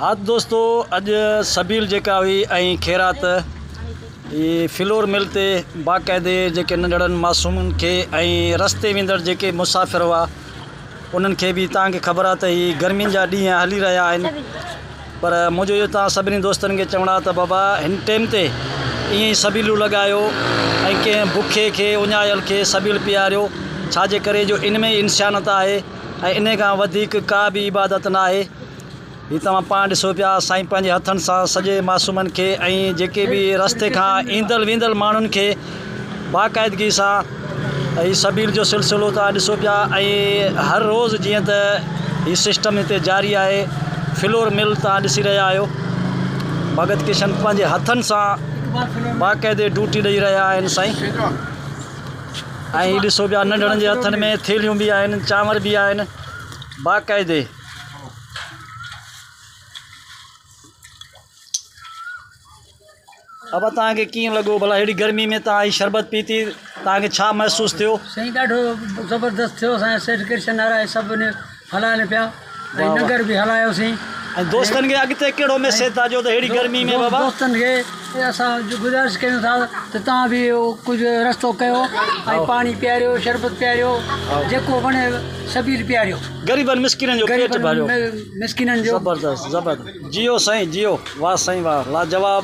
ها ته دوستو اڄ سبيل جيڪا هئي ۽ خيرات هي فلور مل تي باقاعدي جيڪي ننڍڙن معصومن کي ۽ رستي ويندڙ جيڪي مسافر هئا انهن کي به توهان کي خبر آهي ته هي گرمين جا ڏينهن هلي رهيا آهن پر منهنجو اهو توهان سڀني دوستن کي چوڻ آهي ته بابا هن ٽيم تي ائين ئي سبيلون لڳايو ۽ ڪنهن بکي کي اڃايل کي سبيل پياريو ڇا جي ڪري جو ان ۾ ئي انسانيت آهي ۽ ان کان وڌيڪ ڪا به عبادت ناهي هي توهان پاڻ ڏسو پيا سائين پنهنجي هٿن سان سڄي معصومن کي ۽ جيڪي به رستي کان ايندل ويندل ماڻهن کي باقاعدگي سان هي سبيل جو سلسلو توهان ڏسو پيا ۽ هر روز جيئن ته هي سسٽم هتي جاري آهي فلور مل توهان ڏسي رهيا آهيو ڀڳت ڪشن پنهنجي هٿن سان باقاعدي ڊوٽي ڏئي رهيا آهن سائين ۽ ڏسو پيا ننڍڙن جي هٿن ۾ ٿيلهيون به آهن چانور به آهن باقاعدي ابا تان کي ڪيئن لڳو ڀلا اهڙي گرمي ۾ تان هي شربت پيتي تان کي ڇا محسوس ٿيو سائين ڏاڍو زبردست ٿيو اسان سيٺ ڪرشن نارائي سڀ ان هلائن پيا ۽ ننگر به هلايوسين ۽ دوستن کي اڳتي ڪهڙو ميسيج ٿا ڏيو ته اهڙي گرمي ۾ بابا دوستن کي اسان گذارش ڪيون ٿا ته تان به ڪجهه رستو ڪيو ۽ پاڻي پياريو شربت پياريو جيڪو وڻي سبيل پياريو غريبن مسڪينن جو پيٽ ڀريو. غريبن مسڪينن جو. زبردست زبردست جيو سائين جيو واه سائين واه لاجواب.